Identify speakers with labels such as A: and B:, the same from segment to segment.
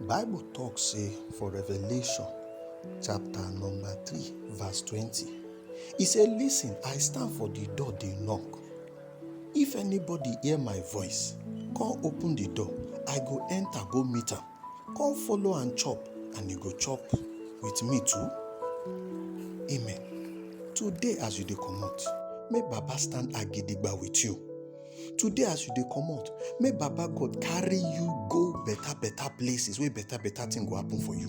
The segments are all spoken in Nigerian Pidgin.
A: Bible talk say for Revelation chapter number 3 verse 20 he say listen I stand for the door dey knock if anybody hear my voice come open the door I go enter go meet am come follow and chop and he go chop with me too amen today as you dey comot make baba stand agidigba with you today as you dey comot may baba god carry you go better better places wey better better thing go happen for you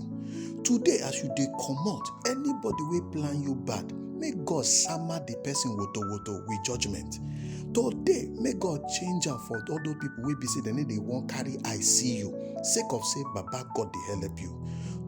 A: today as you dey comot anybody wey plan you bad may god sama the person woto woto with judgement today may god change am for all those people wey be say dem no dey wan carry eye see you sake of say baba god dey help you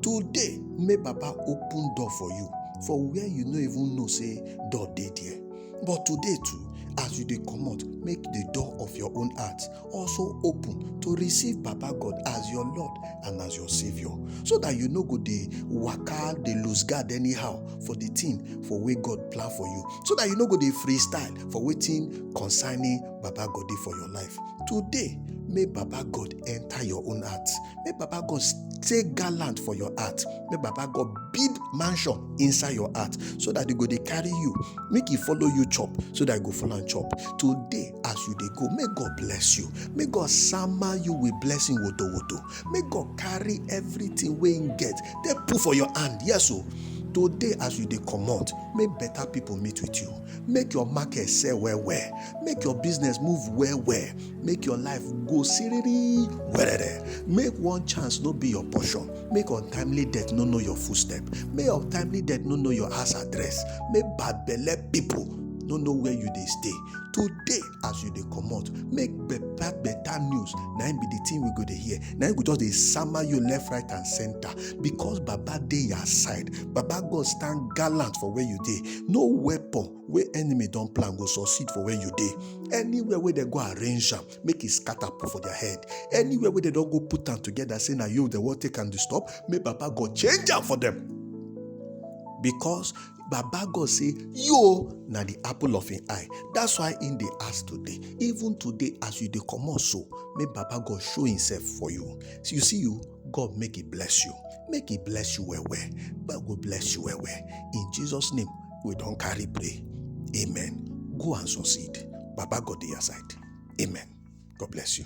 A: today may baba open door for you for where you no even know say door dey there But today too, as you dey comot, make the door of your own heart also open to receive Baba God as your Lord and as your Savior, so that you no go dey waka, dey lose guard anyhow for the thing for wey God plan for you, so that you no go dey freestyle for wetin concerning Baba God dey for your life. Today, make Baba God enter your own heart, make Baba God take gallant for your heart make baba god build mansion inside your heart so that e go dey carry you make e follow you chop so that e go follow am chop today as you dey go make god bless you make god sama you with blessing woto woto make god carry everything wey him get take put for your hand yes o today as you dey comot make better people meet with you make your market sell well well make your business move well well make your life go siriri werere make one chance no be your portion make untimely death no know your footstep make untimely death no know your house address make bad belle people no know where you dey stay today as you dey comot make better better news na im be the thing we go dey hear na im go just dey sama you left right and center because baba dey your side baba god stand gallant for where you dey no weapon wey enemy don plan go succeed for where you dey anywhere wey dem go arrange am make e scatter put for their head anywhere wey dem don go put am together say na you dem wan take am disturb make baba god change am for them because baba god say yo na the apple of him eye that's why him dey ask today even today as you dey comot so make baba god show himself for you so you see you god make he bless you make he bless you well well god go bless you well well in jesus name we don carry pray amen go and succeed baba god dey your side amen god bless you.